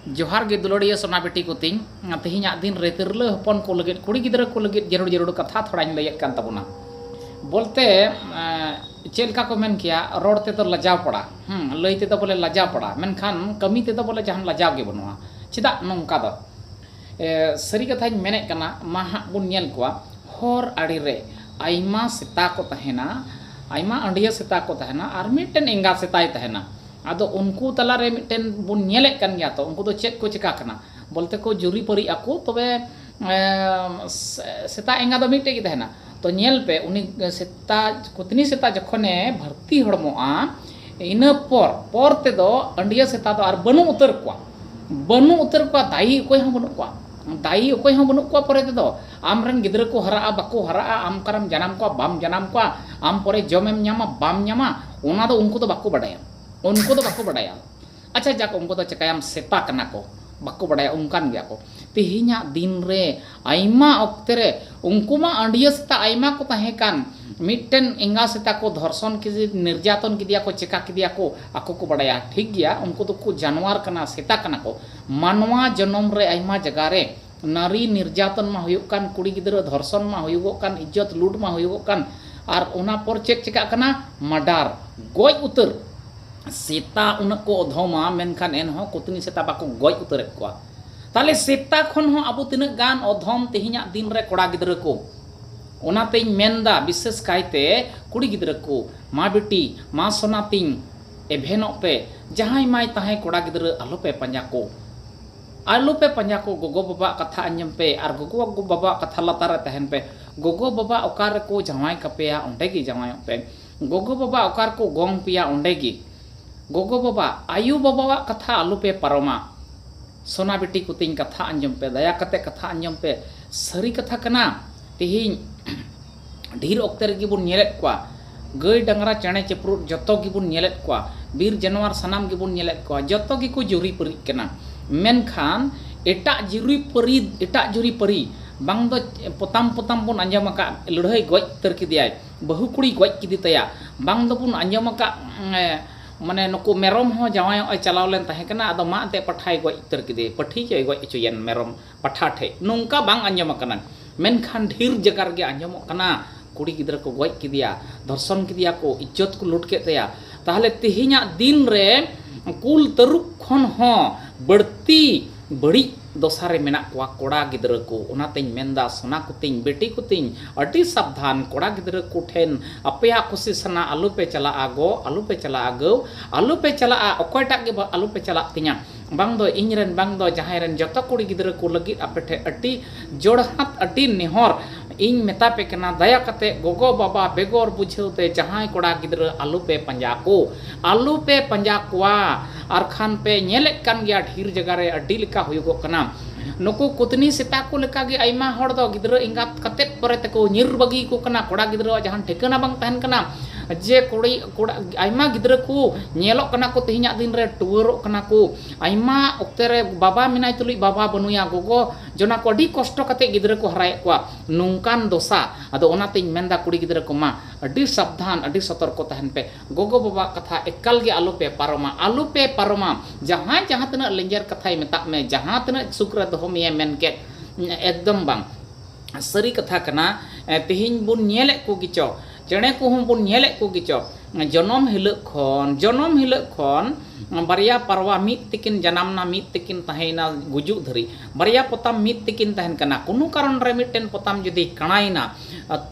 ᱡᱚᱦᱟᱨ ᱜᱮ ᱫᱩᱞᱟᱹᱲᱤᱭᱟᱹ ᱥᱚᱱᱟ ᱵᱤᱴᱤ ᱠᱚ ᱛᱤᱧ ᱛᱮᱦᱮᱧᱟᱜ ᱫᱤᱱ ᱨᱮ ᱛᱤᱨᱞᱟᱹ ᱦᱚᱯᱚᱱ ᱠᱚ ᱞᱟᱹᱜᱤᱫ ᱠᱩᱲᱤ ᱜᱤᱫᱽᱨᱟᱹ ᱠᱚ ᱞᱟᱹᱜᱤᱫ ᱡᱟᱹᱨᱩᱲ ᱡᱟᱹᱨᱩᱲ ᱠᱟᱛᱷᱟ ᱛᱷᱚᱲᱟᱧ ᱞᱟᱹᱭᱮᱫ ᱠᱟᱱ ᱛᱟᱵᱚᱱᱟ ᱵᱚᱞᱛᱮ ᱪᱮᱫ ᱞᱮᱠᱟ ᱠᱚ ᱢᱮᱱ ᱠᱮᱭᱟ ᱨᱚᱲ ᱛᱮᱫᱚ ᱞᱟᱡᱟᱣ ᱯᱟᱲᱟ ᱞᱟᱹᱭ ᱛᱮᱫᱚ ᱵᱚᱞᱮ ᱞᱟᱡᱟᱣ ᱯᱟᱲᱟ ᱢᱮᱱᱠᱷᱟᱱ ᱠᱟᱹᱢᱤ ᱛᱮᱫᱚ ᱵᱚᱞᱮ ᱡᱟᱦᱟᱱ ᱞᱟᱡᱟᱣ ᱜᱮ ᱵᱟᱹᱱᱩᱜᱼᱟ ᱪᱮᱫᱟᱜ ᱱᱚᱝᱠᱟ ᱫᱚ ᱥᱟᱹᱨᱤ ᱠᱟᱛᱷᱟᱧ ᱢᱮᱱᱮᱫ ᱠᱟᱱᱟ ᱢᱟ ᱦᱟᱸᱜ ᱵᱚᱱ ᱧᱮᱞ ᱠᱚᱣᱟ ᱦᱚᱨ ᱟᱲᱮ ᱨᱮ ᱟᱭᱢᱟ ᱥᱮᱛᱟ ᱠᱚ ᱛᱟᱦᱮᱱᱟ ᱟᱭᱢᱟ ᱟᱹᱰᱤᱭᱟᱹ ᱥᱮᱛᱟ ᱠᱚ ᱛᱟᱦᱮᱱᱟ ᱟᱨ ᱢᱤᱫᱴᱮᱱ ᱮᱸᱜᱟ ᱥᱮᱛᱟᱭ ᱛᱟᱦᱮᱱᱟ ᱟᱫᱚ ᱩᱱᱠᱩ ᱛᱟᱞᱟ ᱨᱮ ᱢᱤᱫᱴᱮᱱ ᱵᱚᱱ ᱧᱮᱞᱮᱫ ᱠᱟᱱ ᱜᱮᱭᱟ ᱛᱚ ᱩᱱᱠᱩ ᱫᱚ ᱪᱮᱫ ᱠᱚ ᱪᱤᱠᱟᱹᱜ ᱠᱟᱱᱟ ᱵᱚᱞᱛᱮ ᱠᱚ ᱡᱩᱨᱤ ᱯᱟᱹᱨᱤᱜ ᱟᱠᱚ ᱛᱚᱵᱮ ᱥᱮᱛᱟ ᱮᱸᱜᱟ ᱫᱚ ᱢᱤᱫᱴᱮᱱ ᱜᱮ ᱛᱟᱦᱮᱱᱟ ᱛᱚ ᱧᱮᱞ ᱯᱮ ᱩᱱᱤ ᱥᱮᱛᱟ ᱠᱩᱛᱱᱤ ᱥᱮᱛᱟ ᱡᱚᱠᱷᱚᱱᱮ ᱵᱷᱟᱹᱨᱛᱤ ᱦᱚᱲᱢᱚᱜᱼᱟ ᱤᱱᱟᱹ ᱯᱚᱨ ᱯᱚᱨ ᱛᱮᱫᱚ ᱟᱹᱰᱭᱟᱹ ᱥᱮᱛᱟ ᱫᱚ ᱟᱨ ᱵᱟᱹᱱᱩᱜ ᱩᱛᱟᱹᱨ ᱠᱚᱣᱟ ᱵᱟᱹᱱᱩᱜ ᱩᱛᱟᱹᱨ ᱠᱚᱣᱟ ᱫᱟᱭᱤ ᱚᱠᱚᱭ ᱦᱚᱸ ᱵᱟᱹᱱᱩᱜ ᱠᱚᱣᱟ ᱫᱟᱭᱤ ᱚᱠᱚᱭ ᱦᱚᱸ ᱵᱟᱹᱱᱩᱜ ᱠᱚᱣᱟ ᱯᱚᱨᱮ ᱛᱮᱫᱚ ᱟᱢ ᱨᱮᱱ ᱜᱤᱫᱽᱨᱟᱹ ᱠᱚ ᱦᱟᱨᱟᱜᱼᱟ ᱵᱟᱠᱚ ᱦᱟᱨᱟᱜᱼᱟ ᱟᱢ ᱚᱠᱟᱨᱮᱢ ᱡᱟᱱᱟᱢ ᱠᱚᱣᱟ ᱵᱟᱢ ᱡᱟᱱᱟᱢ ᱠᱚᱣᱟ ᱟᱢ ᱯᱚᱨᱮ ᱡᱚᱢᱮᱢ ᱧᱟᱢᱟ ᱵᱟᱢ ᱧᱟᱢᱟ ᱚᱱᱟ ᱫᱚ ᱩᱱᱠᱩ ᱫᱚ ᱵᱟᱠᱚ ᱵᱟᱰᱟᱭᱟ ᱩᱱᱠᱩ ᱫᱚ ᱵᱟᱠᱚ ᱵᱟᱰᱟᱭᱟ ᱟᱪᱪᱷᱟ ᱡᱟᱠ ᱩᱱᱠᱩ ᱫᱚ ᱪᱮᱠᱟᱭᱟᱢ ᱥᱮᱛᱟ ᱠᱟᱱᱟ ᱠᱚ ᱵᱟᱠᱚ ᱵᱟᱰᱟᱭᱟ ᱚᱱᱠᱟᱱ ᱜᱮᱭᱟ ᱠᱚ ᱛᱮᱦᱮᱧᱟᱜ ᱫᱤᱱ ᱨᱮ ᱟᱭᱢᱟ ᱚᱠᱛᱮ ᱨᱮ ᱩᱱᱠᱩ ᱢᱟ ᱟᱹᱰᱤᱭᱟᱹ ᱥᱮᱛᱟ ᱟᱭᱢᱟ ᱠᱚ ᱛᱟᱦᱮᱸ ᱠᱟᱱ ᱢᱤᱫᱴᱮᱱ ᱮᱸᱜᱟ ᱥᱮᱛᱟ ᱠᱚ ᱫᱷᱚᱨᱥᱚᱱ ᱠᱮᱫᱮ ᱱᱤᱨᱡᱟᱛᱚᱱ ᱠᱮᱫᱮᱭᱟ ᱠᱚ ᱪᱮᱠᱟ ᱠᱮᱫᱮᱭᱟ ᱠᱚ ᱟᱠᱚ ᱠᱚ ᱵᱟᱰᱟᱭᱟ ᱴᱷᱤᱠ ᱜᱮᱭᱟ ᱩᱱᱠᱩ ᱫᱚᱠᱚ ᱡᱟᱱᱣᱟᱨ ᱠᱟᱱᱟ ᱥᱮᱛᱟ ᱠᱟᱱᱟ ᱠᱚ ᱢᱟᱱᱣᱟ ᱡᱚᱱᱚᱢ ᱨᱮ ᱟᱭᱢᱟ ᱡᱟᱭᱜᱟ ᱨᱮ ᱱᱟᱨᱤ ᱱᱤᱨᱡᱟᱛᱚᱱ ᱢᱟ ᱦᱩᱭᱩᱜ ᱠᱟᱱ ᱠᱩᱲᱤ ᱜᱤᱫᱽᱨᱟᱹ ᱫᱷᱚᱨᱥᱚᱱ ᱢᱟ ᱦᱩᱭᱩᱜᱚᱜ ᱠᱟᱱ ᱤᱡᱡᱚᱛ ᱞᱩᱴ ᱢᱟ ᱦᱩᱭᱩᱜᱚᱜ ᱠᱟᱱ ᱟᱨ ᱚᱱᱟ ᱯᱚᱨ ᱪᱮᱫ ᱪᱮᱠᱟᱜ ᱠᱟᱱᱟ ᱢᱟᱰᱟᱨ ᱜᱚᱡ ᱩᱛᱟᱹᱨ ᱥᱮᱛᱟ ᱩᱱᱟᱹᱜ ᱠᱚ ᱚᱫᱷᱚᱢᱟ ᱢᱮᱱᱠᱷᱟᱱ ᱮᱱᱦᱚᱸ ᱠᱚᱛᱱᱤ ᱥᱮᱛᱟ ᱵᱟᱠᱚ ᱜᱚᱡ ᱩᱛᱟᱹᱨᱮᱫ ᱠᱚᱣᱟ ᱛᱟᱦᱞᱮ ᱥᱮᱛᱟ ᱠᱷᱚᱱ ᱦᱚᱸ ᱟᱵᱚ ᱛᱤᱱᱟᱹᱜ ᱜᱟᱱ ᱚᱫᱷᱚᱢ ᱛᱮᱦᱮᱧᱟᱜ ᱫᱤᱱ ᱨᱮ ᱠᱚᱲᱟ ᱜᱤᱫᱽᱨᱟᱹ ᱠᱚ ᱚᱱᱟᱛᱮᱧ ᱢᱮᱱᱫᱟ ᱵᱤᱥᱮᱥ ᱠᱟᱭᱛᱮ ᱠᱩᱲᱤ ᱜᱤᱫᱽᱨᱟᱹ ᱠᱚ ᱢᱟ ᱵᱤᱴᱤ ᱢᱟ ᱥᱚᱱᱟ ᱛᱤᱧ ᱮᱵᱷᱮᱱᱚᱜ ᱯᱮ ᱡᱟᱦᱟᱸᱭ ᱢᱟᱭ ᱛᱟᱦᱮᱸ ᱠᱚᱲᱟ ᱜᱤᱫᱽᱨᱟᱹ ᱟᱞᱚᱯᱮ ᱯᱟᱸᱡᱟ ᱠᱚ ᱟᱞᱚᱯᱮ ᱯᱟᱸᱡᱟ ᱠᱚ ᱜᱚᱜᱚ ᱵᱟᱵᱟᱣᱟᱜ ᱠᱟᱛᱷᱟ ᱟᱸᱡᱚᱢ ᱯᱮ ᱟᱨ ᱜᱚᱜᱚ ᱵᱟᱵᱟᱣᱟᱜ ᱠᱟᱛᱷᱟ ᱞᱟᱛᱟᱨ ᱨᱮ ᱛᱟᱦᱮᱱ ᱯᱮ ᱜᱚᱜᱚ ᱵᱟᱵᱟ ᱚᱠᱟ ᱨᱮᱠᱚ ᱡᱟᱶᱟᱭ ᱠᱟᱯᱮᱭᱟ ᱚᱸᱰᱮ ᱜᱮ ᱡᱟᱶᱟᱭᱚᱜ ᱯᱮ ᱜᱚᱜᱚ ᱵᱟᱵᱟ ᱚᱠᱟ ᱨᱮᱠᱚ ᱜᱚᱝ ᱯᱮᱭᱟ ᱚᱸᱰᱮ ᱜᱮ ᱜᱚᱜᱚ ᱵᱟᱵᱟ ᱟᱭᱳ ᱵᱟᱵᱟᱣᱟᱜ ᱠᱟᱛᱷᱟ ᱟᱞᱚ ᱯᱮ ᱯᱟᱨᱚᱢᱟ ᱥᱚᱱᱟ ᱵᱤᱴᱤ ᱠᱚ ᱛᱤᱧ ᱠᱟᱛᱷᱟ ᱟᱸᱡᱚᱢ ᱯᱮ ᱫᱟᱭᱟ ᱠᱟᱛᱮ ᱠᱟᱛᱷᱟ ᱟᱸᱡᱚᱢ ᱯᱮ ᱥᱟᱹᱨᱤ ᱠᱟᱛᱷᱟ ᱠᱟᱱᱟ ᱛᱮᱦᱮᱧ ᱰᱷᱤᱨ ᱚᱠᱛᱮ ᱨᱮᱜᱮ ᱵᱚᱱ ᱧᱮᱞᱮᱫ ᱠᱚᱣᱟ ᱜᱟᱹᱭ ᱰᱟᱝᱨᱟ ᱪᱮᱬᱮ ᱪᱤᱯᱨᱩᱫ ᱡᱚᱛᱚ ᱜᱮᱵᱚᱱ ᱧᱮᱞᱮᱫ ᱠᱚᱣᱟ ᱵᱤᱨ ᱡᱟᱱᱣᱟᱨ ᱥᱟᱱᱟᱢ ᱜᱮᱵᱚᱱ ᱧᱮᱞᱮᱫ ᱠᱚᱣᱟ ᱡᱚᱛᱚ ᱜᱮᱠᱚ ᱡᱩᱨᱤ ᱯᱟᱹᱨᱤᱜ ᱠᱟᱱᱟ ᱢᱮᱱᱠᱷᱟᱱ ᱮᱴᱟᱜ ᱡᱩᱨᱤ ᱯᱟᱹᱨᱤ ᱮᱴᱟᱜ ᱡᱩᱨᱤ ᱯᱟᱹᱨᱤ ᱵᱟᱝ ᱫᱚ ᱯᱚᱛᱟᱢ ᱯᱚᱛᱟᱢ ᱵᱚᱱ ᱟᱸᱡᱚᱢ ᱟᱠᱟᱫ ᱞᱟᱹᱲᱦᱟᱹᱭ ᱜᱚᱡ ᱩᱛᱟᱹᱨ ᱠᱮᱫᱮᱭᱟᱭ ᱵᱟᱹᱦᱩ ᱠᱩᱲᱤ ᱜᱚᱡ ᱠᱮᱫᱮ ᱛᱟᱭᱟ ᱵᱟᱝ ᱫᱚᱵᱚᱱ ᱟᱸᱡᱚᱢ ᱟᱠᱟᱫ ᱢᱟᱱᱮ ᱱᱩᱠᱩ ᱢᱮᱨᱚᱢ ᱦᱚᱸ ᱡᱟᱶᱟᱭᱚᱜ ᱮ ᱪᱟᱞᱟᱣ ᱞᱮᱱ ᱛᱟᱦᱮᱸ ᱠᱟᱱᱟ ᱟᱫᱚ ᱢᱟᱜ ᱮᱱᱛᱮᱫ ᱯᱟᱴᱷᱟᱭ ᱜᱚᱡ ᱩᱛᱟᱹᱨ ᱠᱮᱫᱮᱭᱟ ᱯᱟᱹᱴᱷᱤ ᱪᱚᱭ ᱜᱚᱡ ᱦᱚᱪᱚᱭᱮᱱ ᱢᱮᱨᱚᱢ ᱯᱟᱴᱷᱟ ᱴᱷᱮᱡ ᱱᱚᱝᱠᱟ ᱵᱟᱝ ᱟᱸᱡᱚᱢ ᱟᱠᱟᱱᱟ ᱢᱮᱱᱠᱷᱟᱱ ᱰᱷᱮᱨ ᱡᱟᱭᱜᱟ ᱨᱮᱜᱮ ᱟᱸᱡᱚᱢᱚᱜ ᱠᱟᱱᱟ ᱠᱩᱲᱤ ᱜᱤᱫᱽᱨᱟᱹ ᱠᱚ ᱜᱚᱡ ᱠᱮᱫᱮᱭᱟ ᱫᱷᱚᱨᱥᱚᱱ ᱠᱮᱫᱮᱭᱟ ᱠᱚ ᱤᱡᱽᱡᱚᱛ ᱠᱚ ᱞᱩᱴ ᱠᱮᱫ ᱛᱟᱭᱟ ᱛᱟᱦᱞᱮ ᱛᱮᱦᱮᱧᱟᱜ ᱫᱤᱱ ᱨᱮ ᱠᱩᱞ ᱛᱟᱹᱨᱩᱵ ᱠᱷᱚᱱ ᱦᱚᱸ ᱵᱟᱹᱲᱛᱤ ᱵᱟᱹᱲᱤᱡ ᱫᱚᱥᱟ ᱨᱮ ᱢᱮᱱᱟᱜ ᱠᱚᱣᱟ ᱠᱚᱲᱟ ᱜᱤᱫᱽᱨᱟᱹ ᱠᱚ ᱚᱱᱟᱛᱮᱧ ᱢᱮᱱᱫᱟ ᱥᱚᱱᱟ ᱠᱚᱛᱤᱧ ᱵᱮᱴᱤ ᱠᱚᱛᱤᱧ ᱟᱹᱰᱤ ᱥᱟᱵᱫᱷᱟᱱ ᱠᱚᱲᱟ ᱜᱤᱫᱽᱨᱟᱹ ᱠᱚ ᱴᱷᱮᱱ ᱟᱯᱮᱭᱟᱜ ᱠᱩᱥᱤ ᱥᱟᱱᱟ ᱟᱞᱚᱯᱮ ᱪᱟᱞᱟᱜᱼᱟ ᱜᱚ ᱟᱞᱚᱯᱮ ᱪᱟᱞᱟᱜᱼᱟ ᱜᱟᱹᱣ ᱟᱞᱚᱯᱮ ᱪᱟᱞᱟᱜᱼᱟ ᱚᱠᱚᱭᱴᱟᱜ ᱜᱮ ᱟᱞᱚᱯᱮ ᱪᱟᱞᱟᱜ ᱛᱤᱧᱟ ᱵᱟᱝ ᱫᱚ ᱤᱧ ᱨᱮᱱ ᱵᱟᱝ ᱫᱚ ᱡᱟᱦᱟᱸᱭ ᱨᱮᱱ ᱡᱚᱛᱚ ᱠᱩᱲᱤ ᱜᱤᱫᱽᱨᱟᱹ ᱠᱚ ᱞᱟᱹᱜᱤᱫ ᱟᱯᱮ ᱴᱷᱮᱱ ᱟᱹᱰᱤ ᱡᱚᱲᱦᱟᱛ ᱟᱹᱰᱤ ᱱᱮᱦᱚᱨ ᱤᱧ ᱢᱮᱛᱟ ᱯᱮ ᱠᱟᱱᱟ ᱫᱟᱭᱟ ᱠᱟᱛᱮ ᱜᱚᱜᱚ ᱵᱟᱵᱟ ᱵᱮᱜᱚᱨ ᱵᱩᱡᱷᱟᱹᱣ ᱛᱮ ᱡᱟᱦᱟᱸᱭ ᱠᱚᱲᱟ ᱜᱤᱫᱽᱨᱟᱹ ᱟᱞᱚ ᱯᱮ ᱯᱟᱸᱡᱟ ᱠᱚ ᱟᱞᱚ ᱯᱮ ᱯᱟᱸᱡᱟ ᱠᱚᱣᱟ ᱟᱨ ᱠᱷᱟᱱ ᱯᱮ ᱧᱮᱞᱮᱫ ᱠᱟᱱ ᱜᱮᱭᱟ ᱰᱷᱮᱨ ᱡᱟᱭᱜᱟ ᱨᱮ ᱟᱹᱰᱤ ᱞᱮᱠᱟ ᱦᱩᱭᱩᱜᱚᱜ ᱠᱟᱱᱟ ᱱᱩᱠᱩ ᱠᱩᱛᱱᱤ ᱥᱮᱛᱟ ᱠᱚ ᱞᱮᱠᱟ ᱜᱮ ᱟᱭᱢᱟ ᱦᱚᱲ ᱫᱚ ᱜᱤᱫᱽᱨᱟᱹ ᱮᱸᱜᱟᱛ ᱠᱟᱛᱮ ᱯᱚᱨᱮ ᱛᱮᱠᱚ ᱧᱤᱨ ᱵᱟᱹᱜᱤ ᱠᱚ ᱠᱟᱱᱟ ᱠᱚᱲᱟ ᱜᱤᱫᱽᱨᱟᱹᱣᱟᱜ ᱡᱟᱦᱟᱱ ᱴᱷᱤᱠᱟᱹᱱᱟ ᱵᱟᱝ ᱛᱟᱦᱮᱱ ᱠᱟᱱᱟ ᱡᱮ ᱠᱩᱲᱤ ᱠᱚᱲᱟ ᱟᱭᱢᱟ ᱜᱤᱫᱽᱨᱟᱹ ᱠᱚ ᱧᱮᱞᱚᱜ ᱠᱟᱱᱟ ᱠᱚ ᱛᱮᱦᱮᱧᱟᱜ ᱫᱤᱱ ᱨᱮ ᱴᱩᱣᱟᱹᱨᱚᱜ ᱠᱟᱱᱟ ᱠᱚ ᱟᱭᱢᱟ ᱚᱠᱛᱮ ᱨᱮ ᱵᱟᱵᱟ ᱢᱮᱱᱟᱭ ᱛᱩᱞᱩᱡ ᱵᱟᱵᱟ ᱵᱟᱹᱱᱩᱭᱟ ᱜᱚᱜᱚ ᱡᱚᱱᱟ ᱠᱚ ᱟᱹᱰᱤ ᱠᱚᱥᱴᱚ ᱠᱟᱛᱮ ᱜᱤᱫᱽᱨᱟᱹ ᱠᱚ ᱦᱟᱨᱟᱭᱮᱫ ᱠᱚᱣᱟ ᱱᱚᱝᱠᱟᱱ ᱫᱚᱥᱟ ᱟᱫᱚ ᱚᱱᱟᱛᱮᱧ ᱢᱮᱱᱫᱟ ᱠᱩᱲᱤ ᱜᱤᱫᱽᱨᱟᱹ ᱠᱚ ᱢᱟ ᱟᱹᱰᱤ ᱥᱟᱵᱫᱷᱟᱱ ᱟᱹᱰᱤ ᱥᱚᱛᱚᱨᱠᱚ ᱛᱟᱦᱮᱱ ᱯᱮ ᱜᱚᱜᱚ ᱵᱟᱵᱟᱣᱟᱜ ᱠᱟᱛᱷᱟ ᱮᱠᱟᱞ ᱜᱮ ᱟᱞᱚ ᱯᱮ ᱯᱟᱨᱚᱢᱟ ᱟᱞᱚ ᱯᱮ ᱯᱟᱨᱚᱢᱟ ᱡᱟᱦᱟᱸᱭ ᱡᱟᱦᱟᱸ ᱛᱤᱱᱟᱹᱜ ᱞᱮᱸᱡᱮᱨ ᱠᱟᱛᱷᱟᱭ ᱢᱮᱛᱟᱜ ᱢᱮ ᱡᱟᱦᱟᱸ ᱛᱤᱱᱟᱹᱜ ᱥᱩᱠ ᱨᱮ ᱫᱚᱦᱚ ᱢᱮᱭᱟᱭ ᱢᱮᱱ ᱠᱮᱫ ᱮᱠᱫᱚᱢ ᱵᱟᱝ ᱥᱟᱹᱨᱤ ᱠᱟᱛᱷᱟ ᱠᱟᱱᱟ ᱛᱮᱦᱮᱧ ᱵᱚᱱ ᱧᱮᱞᱮᱫ ᱠᱚᱜᱮᱪᱚ ᱪᱮᱬᱮ ᱠᱚᱦᱚᱸ ᱵᱚᱱ ᱧᱮᱞᱮᱫ ᱠᱚᱜᱮᱪᱚ ᱡᱚᱱᱚᱢ ᱦᱤᱞᱳᱜ ᱠᱷᱚᱱ ᱡᱚᱱᱚᱢ ᱦᱤᱞᱳᱜ ᱠᱷᱚᱱ ᱵᱟᱨᱭᱟ ᱯᱟᱨᱣᱟ ᱢᱤᱫ ᱛᱮᱠᱤᱱ ᱡᱟᱱᱟᱢᱱᱟ ᱢᱤᱫ ᱛᱮᱠᱤᱱ ᱛᱟᱦᱮᱸᱭᱮᱱᱟ ᱜᱩᱡᱩᱜ ᱫᱷᱟᱹᱨᱤᱡ ᱵᱟᱨᱭᱟ ᱯᱚᱛᱟᱢ ᱢᱤᱫ ᱛᱮᱠᱤᱱ ᱛᱟᱦᱮᱱ ᱠᱟᱱᱟ ᱠᱳᱱᱳ ᱠᱟᱨᱚᱱ ᱨᱮ ᱢᱤᱫᱴᱮᱱ ᱯᱚᱛᱟᱢ ᱡᱩᱫᱤ ᱠᱟᱬᱟᱭᱮᱱᱟ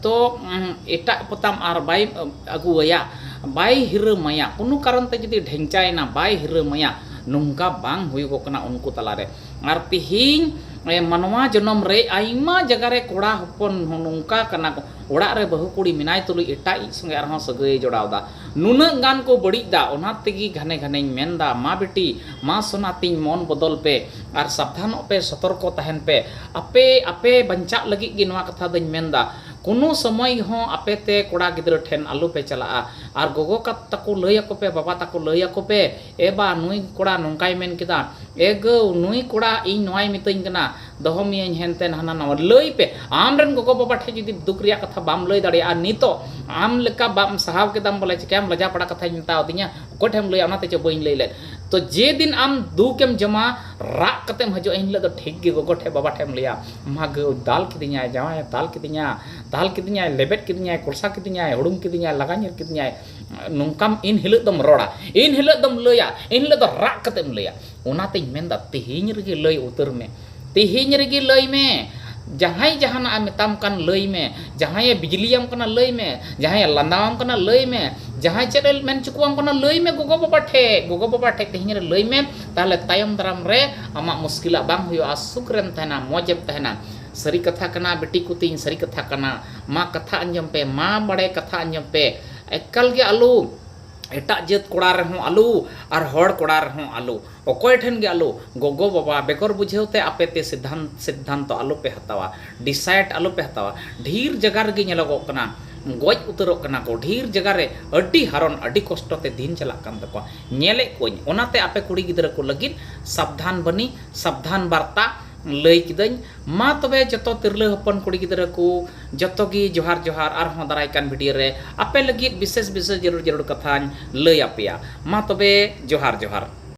ᱛᱚ ᱮᱴᱟᱜ ᱯᱚᱛᱟᱢ ᱟᱨ ᱵᱟᱭ ᱟᱹᱜᱩᱣᱟᱭᱟ ᱵᱟᱭ ᱦᱤᱨᱟᱹᱢᱟᱭᱟ ᱠᱳᱱᱳ ᱠᱟᱨᱚᱱ ᱛᱮ ᱡᱩᱫᱤ ᱰᱷᱮᱝᱪᱟᱭᱮᱱᱟ ᱵᱟᱭ ᱦᱤᱨᱟᱹᱢᱟᱭᱟ ᱱᱚᱝᱠᱟ ᱵᱟᱝ ᱦᱩᱭᱩᱜᱚᱜ ᱠᱟᱱᱟ ᱩᱱᱠᱩ ᱛᱟᱞᱟᱨᱮ ᱟᱨ ᱛᱤᱦᱤᱧ ᱢᱟᱱᱣᱟ ᱡᱚᱱᱚᱢ ᱨᱮ ᱟᱭᱢᱟ ᱡᱟᱭᱜᱟ ᱨᱮ ᱠᱚᱲᱟ ᱦᱚᱯᱚᱱ ᱦᱚᱸ ᱱᱚᱝᱠᱟ ᱠᱟᱱᱟ ᱠᱚ ᱚᱲᱟᱜ ᱨᱮ ᱵᱟᱹᱦᱩ ᱠᱩᱲᱤ ᱢᱮᱱᱟᱭ ᱛᱩᱞᱩᱡ ᱮᱴᱟᱜ ᱤᱡ ᱥᱚᱸᱜᱮ ᱟᱨᱦᱚᱸ ᱥᱟᱹᱜᱟᱹᱭᱮ ᱡᱚᱲᱟᱣ ᱮᱫᱟ ᱱᱩᱱᱟᱹᱜ ᱜᱟᱱ ᱠᱚ ᱵᱟᱹᱲᱤᱡ ᱮᱫᱟ ᱚᱱᱟ ᱛᱮᱜᱮ ᱜᱷᱟᱱᱮ ᱜᱷᱟᱱᱮᱧ ᱢᱮᱱ ᱮᱫᱟ ᱢᱟ ᱵᱤᱴᱤ ᱢᱟ ᱥᱚᱱᱟ ᱛᱤᱧ ᱢᱚᱱ ᱵᱚᱫᱚᱞ ᱯᱮ ᱟᱨ ᱥᱟᱵᱫᱷᱟᱱᱚᱜ ᱯᱮ ᱥᱚᱛᱚᱨᱠᱚ ᱛᱟᱦᱮᱱ ᱯᱮ ᱟᱯᱮ ᱟᱯᱮ ᱵᱟᱧᱪᱟᱜ ᱞᱟᱹᱜᱤᱫ ᱜᱮ ᱱᱚᱣᱟ ᱠᱟᱛᱷᱟ ᱫᱚᱧ ᱢᱮᱱ ᱮᱫᱟ ᱠᱳᱱᱳ ᱥᱚᱢᱚᱭ ᱦᱚᱸ ᱟᱯᱮ ᱛᱮ ᱠᱚᱲᱟ ᱜᱤᱫᱽᱨᱟᱹ ᱴᱷᱮᱱ ᱟᱞᱚ ᱯᱮ ᱪᱟᱞᱟᱜᱼᱟ ᱟᱨ ᱜᱚᱜᱚ ᱛᱟᱠᱚ ᱞᱟᱹᱭ ᱟᱠᱚ ᱯᱮ ᱵᱟᱵᱟ ᱛᱟᱠᱚ ᱞᱟᱹᱭ ᱟᱠᱚ ᱯᱮ ᱮ ᱵᱟ ᱱᱩᱭ ᱠᱚᱲᱟ ᱱᱚᱝᱠᱟᱭ ᱢᱮᱱ ᱠᱮᱫᱟ, ᱮ ᱜᱟᱹᱣ ᱱᱩᱭ ᱠᱚᱲᱟ ᱤᱧ ᱱᱚᱣᱟᱭ ᱢᱤᱛᱟᱹᱧ ᱠᱟᱱᱟ, ᱫᱚᱦᱚ ᱢᱤᱭᱟᱹᱧ ᱦᱮᱱᱛᱮᱱ ᱦᱟᱱᱟ ᱱᱟᱣᱟ᱾ ᱞᱟᱹᱭ ᱯᱮ ᱟᱢ ᱨᱮᱱ ᱜᱚᱜᱚ ᱵᱟᱵᱟ ᱴᱷᱮᱡ ᱡᱩᱫᱤ ᱫᱩᱠ ᱨᱮᱭᱟᱜ ᱠᱟᱛᱷᱟ ᱵᱟᱢ ᱞᱟᱹᱭ ᱫᱟᱲᱮᱭᱟᱜᱼᱟ ᱱᱤᱛᱚᱜ ᱟᱢ ᱞᱮᱠᱟ ᱵᱟᱢ ᱥᱟᱦᱟᱣ ᱠᱮᱫᱟᱢ ᱵᱚᱞᱮ ᱪᱮᱠᱟᱭᱟᱢ ᱞᱟᱡᱟ ᱯᱟᱲᱟ ᱠᱟᱛᱷᱟᱧ ᱢᱮᱛᱟᱣ ᱫᱤᱧᱟ ᱚᱠᱚᱭ ᱴᱷᱮᱡ ᱮᱢ ᱞᱟᱹᱭᱟ ᱚᱱᱟ ᱛᱮ ᱪᱚ ᱵᱟᱹᱧ ᱞᱟᱹᱭ ᱞᱮᱫ ᱛᱚ ᱡᱮ ᱫᱤᱱ ᱟᱢ ᱫᱩᱠ ᱮᱢ ᱡᱚᱢᱟ ᱨᱟᱜ ᱠᱟᱛᱮᱢ ᱦᱟᱹᱡᱩᱜᱼᱟ ᱮᱱ ᱦᱤᱞᱚᱜ ᱫᱚ ᱴᱷᱤᱠ ᱜᱮ ᱜᱚᱜᱚ ᱴᱷᱮᱡ ᱵᱟᱵᱟ ᱴᱷᱮᱡ ᱮᱢ ᱞᱟᱹᱭᱟ ᱢᱟ ᱜᱟᱹᱣ ᱫᱟᱞ ᱠᱤᱫᱤᱧᱟᱭ ᱡᱟᱶᱟᱭ ᱮ ᱫᱟᱞ ᱠᱤᱫᱤᱧᱟ ᱫᱟᱞ ᱠᱤᱫᱤᱧᱟᱭ ᱞᱮᱵᱮᱫ ᱠᱤᱫᱤᱧᱟᱭ ᱠᱚᱲᱥᱟ ᱠᱤᱫᱤᱧᱟᱭ ᱦᱩᱲᱩᱝ ᱠᱤᱫᱤᱧᱟᱭ ᱞᱟᱜᱟ ᱧᱤᱨ ᱠᱤᱫᱤᱧᱟᱭ᱾ ᱱᱚᱝᱠᱟᱢ ᱤᱱ ᱦᱤᱞᱳᱜ ᱫᱚᱢ ᱨᱚᱲᱟ ᱤᱱ ᱦᱤᱞᱳᱜ ᱫᱚᱢ ᱞᱟᱹᱭᱟ ᱤᱱ ᱦᱤᱞᱳᱜ ᱫᱚ ᱨᱟᱜ ᱠᱟᱛᱮᱢ ᱞᱟᱹᱭᱟ ᱚᱱᱟᱛᱮᱧ ᱢᱮᱱᱫᱟ ᱛᱮᱦᱮᱧ ᱨᱮᱜᱮ ᱞᱟᱹᱭ ᱩᱛᱟᱹᱨ ᱢᱮ ᱛᱮᱦᱮᱧ ᱨᱮᱜᱮ ᱞᱟᱹᱭ ᱢᱮ ᱡᱟᱦᱟᱸᱭ ᱡᱟᱦᱟᱱᱟᱜ ᱮ ᱢᱮᱛᱟᱢ ᱠᱟᱱ ᱞᱟᱹᱭ ᱢᱮ ᱡᱟᱦᱟᱸᱭᱮ ᱵᱤᱡᱽᱞᱤᱭᱟᱢ ᱠᱟᱱᱟ ᱞᱟᱹᱭ ᱢᱮ ᱡᱟᱦᱟᱸᱭᱮ ᱞᱟᱸᱫᱟᱣᱟᱢ ᱠᱟᱱᱟ ᱞᱟᱹᱭ ᱢᱮ ᱡᱟᱦᱟᱸᱭ ᱪᱮᱫ ᱮ ᱢᱮᱱ ᱦᱚᱪᱚ ᱠᱚᱣᱟᱢ ᱠᱟᱱᱟ ᱞᱟᱹᱭ ᱢᱮ ᱜᱚᱜᱚ ᱵᱟᱵᱟ ᱴᱷᱮᱡ ᱜᱚᱜᱚ ᱵᱟᱵᱟ ᱴᱷᱮᱡ ᱛᱮᱦᱮᱧ ᱨᱮ ᱞᱟᱹᱭ ᱢᱮ ᱛᱟᱦᱞᱮ ᱛᱟᱭᱚᱢ ᱫᱟᱨᱟᱢ ᱨᱮ ᱟᱢᱟᱜ ᱢᱩᱥᱠᱤᱞᱟᱜ ᱵᱟᱝ ᱦᱩᱭᱩᱜᱼᱟ ᱥᱩᱠ ᱨᱮᱢ ᱛᱟᱦᱮᱱᱟ ᱢᱚᱡᱽ ᱮᱢ ᱛᱟᱦᱮᱱᱟ ᱥᱟᱹᱨᱤ ᱠᱟᱛᱷᱟ ᱠᱟᱱᱟ ᱵᱤᱴᱤ ᱠᱚ ᱛᱤᱧ ᱥᱟᱹᱨᱤ ᱠᱟᱛᱷᱟ ᱠᱟᱱᱟ ᱢᱟ ᱠᱟᱛᱷᱟ ᱟᱸᱡᱚᱢ ᱯᱮ ᱢᱟ ᱵᱟᱲᱮ ᱠᱟᱛᱷᱟ ᱟᱸᱡᱚᱢ ᱯᱮ ᱮᱠᱟᱞ ᱜᱮ ᱟᱞᱚ ᱮᱴᱟᱜ ᱡᱟᱹᱛ ᱠᱚᱲᱟ ᱨᱮᱦᱚᱸ ᱟᱞᱚ ᱟᱨ ᱦᱚᱲ ᱠᱚᱲᱟ ᱨᱮᱦᱚᱸ ᱟᱞᱚ ᱚᱠᱚᱭ ᱴᱷᱮᱱ ᱜᱮ ᱟᱞᱚ ᱜᱚᱜᱚ ᱵᱟᱵᱟ ᱵᱮᱜᱚᱨ ᱵᱩᱡᱷᱟᱹᱣ ᱛᱮ ᱟᱯᱮ ᱛᱮ ᱥᱤᱫᱷᱟᱱ ᱥᱤᱫᱷᱟᱱᱛᱚ ᱟᱞᱚ ᱯᱮ ᱦᱟᱛᱟᱣᱟ ᱰᱤᱥᱟᱭᱤᱰ ᱟᱞᱚ ᱯᱮ ᱦᱟᱛᱟᱣᱟ ᱰᱷᱤᱨ ᱡᱟᱭᱜᱟ ᱨᱮᱜᱮ ᱧᱮᱞᱚᱜᱚᱜ ᱠᱟᱱᱟ ᱜᱚᱡ ᱩᱛᱟᱹᱨᱚᱜ ᱠᱟᱱᱟ ᱠᱚ ᱰᱷᱤᱨ ᱡᱟᱭᱜᱟ ᱨᱮ ᱟᱹᱰᱤ ᱦᱟᱨᱚᱱ ᱟᱹᱰᱤ ᱠᱚᱥᱴᱚ ᱛᱮ ᱫᱤᱱ ᱪᱟᱞᱟᱜ ᱠᱟᱱ ᱛᱟᱠᱚᱣᱟ ᱧᱮᱞᱮᱫ ᱠᱚᱣᱟᱹᱧ ᱚᱱᱟᱛᱮ ᱟᱯᱮ ᱠᱩᱲᱤ ᱜᱤᱫᱽᱨᱟᱹ ᱠᱚ ᱞᱟᱹᱜᱤᱫ ᱥᱟᱵᱫᱷᱟᱱ ᱵᱟᱹᱱᱤ ᱥᱟᱵᱫᱷᱟᱱ ᱵᱟᱨᱛᱟ ᱞᱟᱹᱭ ᱠᱤᱫᱟᱹᱧ ᱢᱟ ᱛᱚᱵᱮ ᱡᱚᱛᱚ ᱛᱤᱨᱞᱟᱹ ᱦᱚᱯᱚᱱ ᱠᱩᱲᱤ ᱜᱤᱫᱽᱨᱟᱹ ᱠᱩ ᱡᱚᱛᱚ ᱜᱤ ᱡᱚᱦᱟᱨ ᱡᱚᱦᱟᱨ ᱟᱨ ᱦᱚᱸ ᱫᱟᱨᱟᱭ ᱠᱟᱱ ᱵᱷᱤᱰᱤᱭᱳ ᱨᱮ ᱟᱯᱮ ᱞᱟᱹᱜᱤᱫ ᱵᱤᱥᱮᱥ ᱵᱤᱥᱮᱥ ᱡᱟᱹᱨᱩᱲ ᱡᱟᱹᱨᱩᱲ ᱠᱟᱛᱷᱟᱧ ᱞᱟᱹᱭ ᱟᱯᱮᱭᱟ ᱢᱟ ᱛᱚᱵᱮ ᱡᱚᱦᱟᱨ ᱡᱚᱦᱟᱨ᱾